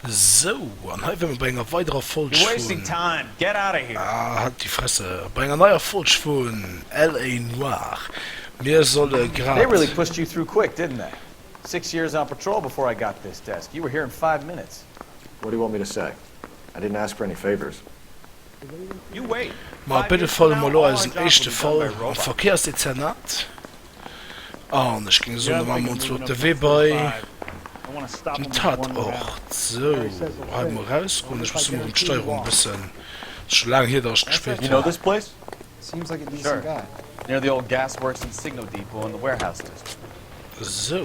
Sou, an hei wär mer bei enger weiderer Folg vun. Ah, halt déi Fresse! Bei enger neier Folg vun LA Noir. Mir solle grad. Ma op béide Fall elo eisen éischte Fall am Verkéiersdezernat. An ech géing soen, da maache mer ons elo op de Wee bei den Tatort. Sou, hei emol erausgoen. Ech muss emol erëm d'Steierung e bëssen, ass scho laang hier, datt ech gespillt hunn. Sou.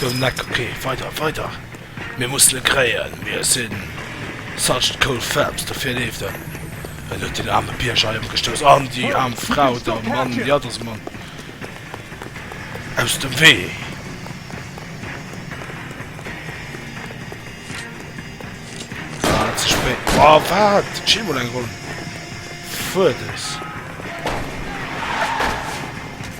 Goung leck, ok weider weider mir mussen en kréien, mir sinn such cool femmes, dofir leeft en, en huet den aarme Bierger hei ëmgestouss an déi aarm Frau der Mann déi hat ass Mann aus dem Wee. War ze spéit, oh wat et gin mol eng Ronn fuerders.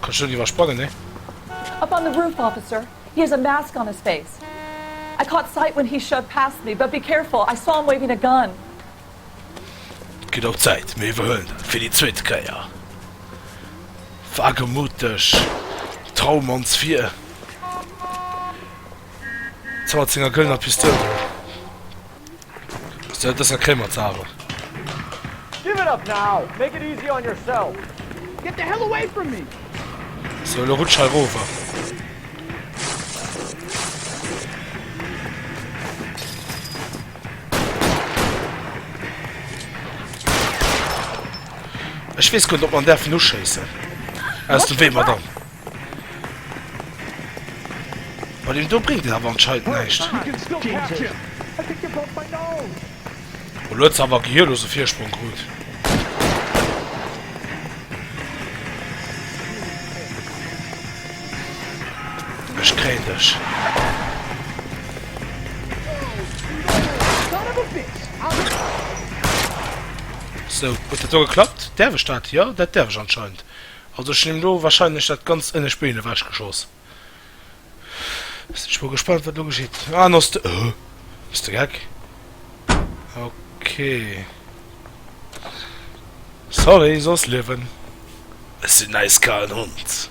Kannst du dat iwwersprangen, nee? Up on the roof, officer. He has a mask on his face. I caught sight when he shoved past me, but be careful, I saw him waving a gun. Et gëtt och Zäit. Mir iwwerhuelen dat fir déi zweet Kéier. Wagemut dech. Traum ons vir. Ze mat senger gëllener Pistoul. Ass dat et besser kréie mer ze awer. Give it up now, make it easy on yourself. Get the hell away from me! Sou elo rutsch hei rower. Ech weess guer net op mer däerfen uschéissen. Aus dem Wee madame. Bei dem do bréngt et awer anscheinend näischt. Elo huet se awer gehirlos e Virsprong krut. Ech kréien dech. Sou, huet dat do geklappt? Däerf ech dat? Jo, dat däerf ech anscheinend. Also ech hun him lo wahrscheinlech dat ganzt ënnescht Been ewech geschoss. Sin ech mol gespannt wat lo geschitt. Ah no st du bist de geck? Ok sorry soss liewen. Ech sin äiskalen Hund.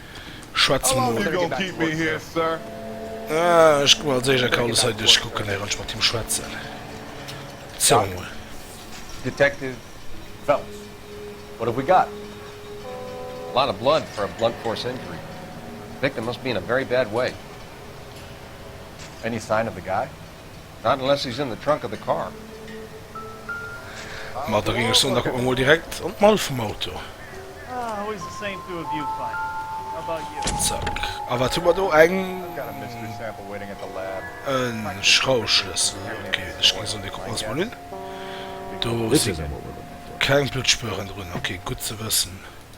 Schwätze mol. Ech gu mol als éischt a Carlos hei duerchkucken, wéirend ech mat him schwätzen. Zéng mol. Detective Phelps, What have we got? A lot of blood for a blunt force injury. Victim must be in a very bad way. Any sign of the guy? Not unless he's in the trunk of the car. Ma da géing ech soen, da kucke mer mol direkt an d'Mall vum Auto. Zack. A wat hu mer do? Eng, en Schrauschlëssel. Ok, ech géing soen, dee kucke mer eis mol un. Do si keng Bluttspueren drun. Ok, gutt ze wëssen.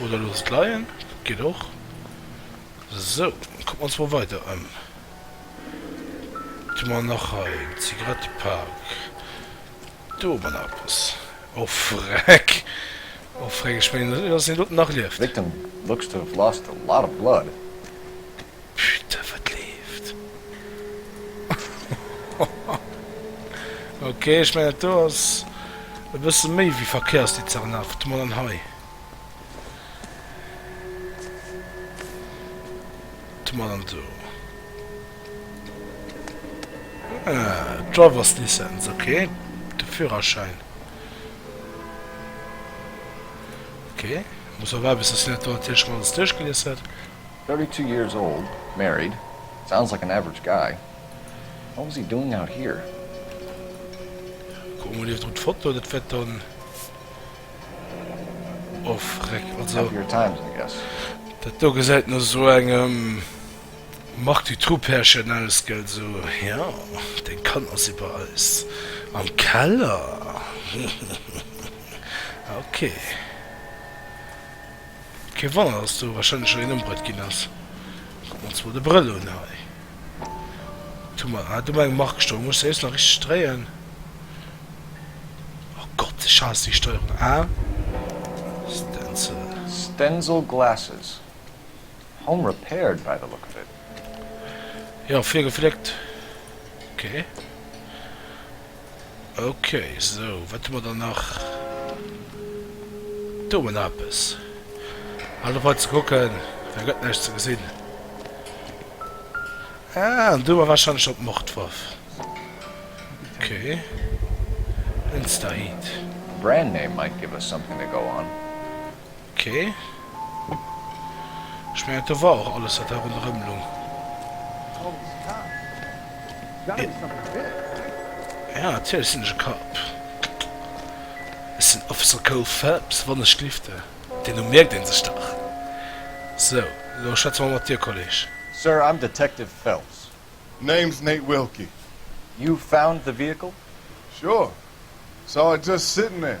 Oder looss et leien, dat geet och. Sou, kucken mer ons mol weider ëm. Wat hu mer nach hei? En Zigarettepak. Do hu mer nach eppes. Oh freck! Oh freck, ech mengen, dass een doten nach lieft. Victim looks to have lost a lot of blood. Putain wat leeft ok ech mengen dat do ass e bësse méi wéi Verkéiersdezernat wat mol an hei tu mol an do ah Drivers License ok de Führerschäin ok muss mer waarden bis de Senateur natierlech mol alles duerchgelies huet. Thirty two years old, married, sounds like an average guy, what was he doing out here? Kucke mol iewendru d'Foto, dat wäert dann ofrek. Also Happier times, I guess. dat do gesäit no esou engem Marc Dutroux Pärchen aus, gell, sou, jo, deng Kann ass iwwer eis am Keller, hihihi, ok. Kee Wonner dass do wahrscheinlech schon een ëmbruet ginn ass. Kuck mol zwou de Brëll un hei. Tu mol hei do mol eng Mark stoen, muss ech se just nach richteg dréien. Oh Gott, ech haass déi Steuerung. A, Stencil. Stencil glasses. Home repaired by the look of it. Jo, virgefléckt. Ok. Okay, sou, wat hu mer dann nach? Do hu mer nach eppes. Halt op hei ze kucken, well gëtt näischt ze gesinn. Ah, an do hu mer warscheinlech dann d'Mordwaff. Okay. Enstahit. Brand name might give us something to go on. Ok, ech mengen do war och alles wat hei ronderem lung. Ja natierlech sinn ech e Cop. Ech sinn Officer Cole Phelps, wann ech glifte. Deen Numm mierkt een sech dach. Sou, lo schwätze mer mat dir Kolleg. Sir, I'm Detective Phelps. Name's Nate Wilkie. You found the vehicle? Sure, saw it just sittin' there.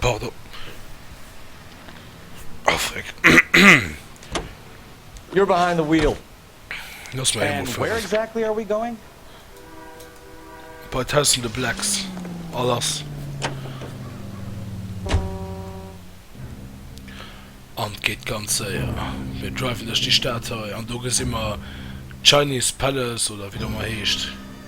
Pardon. Oh freck. You're behind the wheel. Looss mer eemol fueren. Bei tausende Blacks a lass. An d'geet ganz séier. Mir driven duerch déi Stad hei an do gesi mer d'Chinese Palace oder wéi et och ëmmer heescht.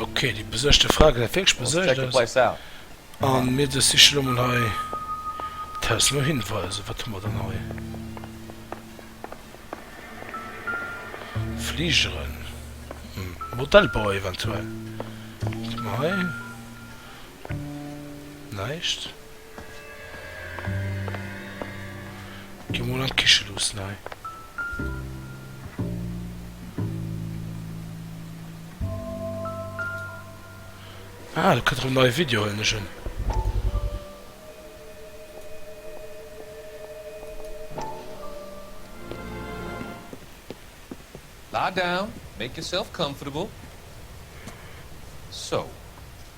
Okay, die besëchte Fra gët wierklech besëcht ass. An mir dës siche lo mol hei d'Haus. Lo hinweisen, wat hu mer dann hei? Fligeren, hm, Modellbauer eventuell. Wat hu mer hei? Näischt. Gi mol an d'Kiche luuss nei. Ah do kënnt rëm neie Video huelen ech en. Lie down, make yourself comfortable. So.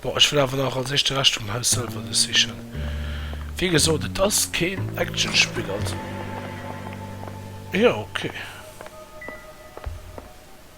Bon, ech wëll awer nach als éischt de Rescht vum Haus selwer do sichen. Wéi gesot, et ass keen Actionspill, also jo, okay.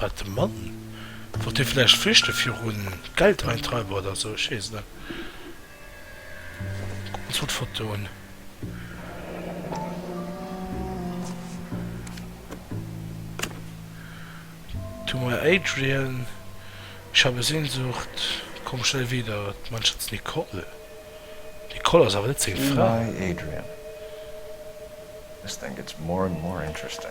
Wat de Mann? Wollt dee vläicht flüchte virun Geldeintreiber oder esou? Ech weess et net. Kucken ons mol d'Foto un. To my Adrian, Ich habe Sehnsucht, Komm schnell wieder, Mein Schatz Nicole. D'Nicole ass awer net seng Fra. To my Adrian, This thing gets more and more interesting.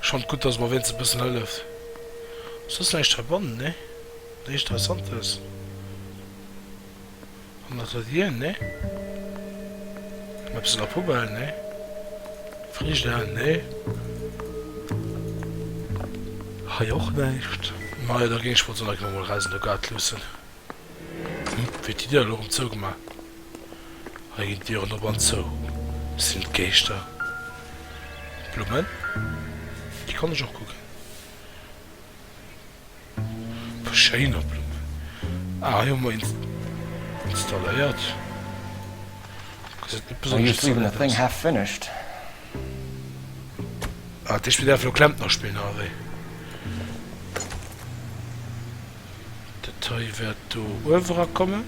Ech fannt gudd dass mer wéinstens e bëssen hëlleft. Soss näischt verbannen, nee? Näischt Interessantes an der Tradien, nee? Emmer eppes an der Poubelle, nee? Frigidaire, nee? Hei och näischt? Majo, da géing ech mol d'Sonnencrème emol räissen, do gâte luussen. Hupp, huet déi Dër elo rëm zougemaach. Hei ginn d'Diren op an zou. Sinn et Geeschter? D'Blummen, déi kann ech och kucken. Puh, schéiner Blummen. Ah, hei hu mer een installéiert. Gesäit net besonnesch installéiert aus. Ah, dat heescht, mir däerfen elo Klempner spillen, oder wéi? Dat hei wäert do uewera kommen.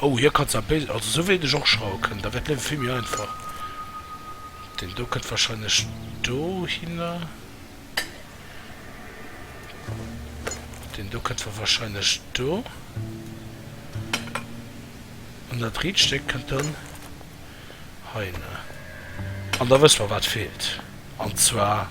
Oh, hie kann zwar béid, also esou wéi ech och schraue kënnen, da wär d'Liewe vill méi einfach. Deen do kënnt warscheinlech dohinner. Deen do kënnt warscheinlech do. An dat riit Stéck kënnt dann heihinner. An da wësse mer, wat feelt. An zwar.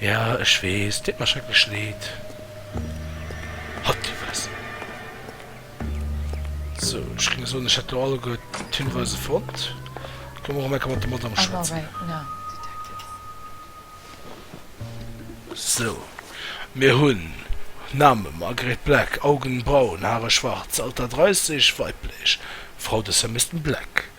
Ja ech wees, deet mer schrecklech leed. Halt déi Fress! Sou, ech géing soen ech hätt lo alleguer d'Hinweise fonnt. Komm mer och emol mat der Madame schwätzen. Sou, mir hunn Namen, Margaret Black, Augen braun, Haare schwarz, Alter 30, weiblech, Frau des Herr Mister Black.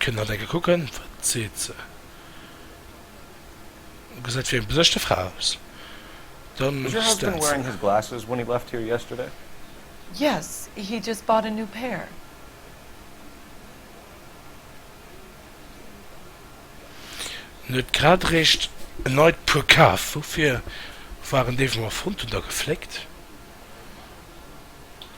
Kënnt nach enke kucken, wat seet se? Gesäit wéi eng besëschte Fra aus. Dann stellt se. Yes, he just bought a new pair. En huet grad eréischt en neit Puer kaf. Woufir waren déi, wou mer fonnt hunn, da gefléckt?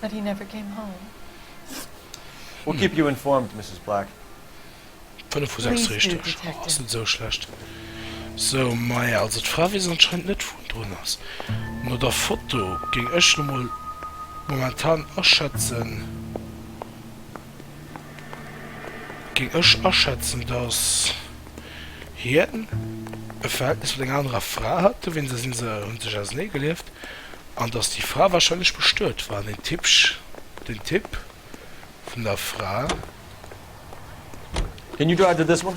But he never came home. We'll keep you informed, Mrs. Black. Fënnef vu sechs richteg, oh ass net esou schlecht. Sou, maja, also d'Fra weess anscheinend net wou en drun ass. No der Foto géing ech lo mol momentan aschätzen. géing ech aschätzen, datt hien e Verhältnis mat enger anerer Fra hat, dowéinst da si se, hu sech ausernee gelieft, an datt déi Fra warscheinlech bestuet war an den Typ, den Typ vun der Fra. Can you drive the this one?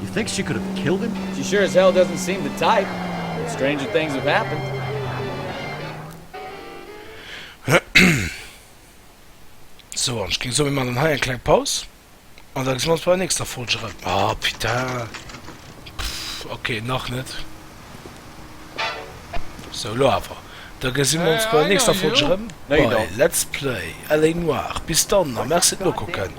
You think she could have killed him? She sure as hell doesn't seem the type, but stranger things have happened. So, an ech géing soen, mir man dann hei eng kleng Paus an da gesinn mir ons bei der nächster Folge erëm. Ah putain, pff, ok, nach net. So, elo awer. Da gesinn mir ons bei der nächster Folge erëm bei Let's Play LA Noire. Bis dann a merci fir d'Nokucken.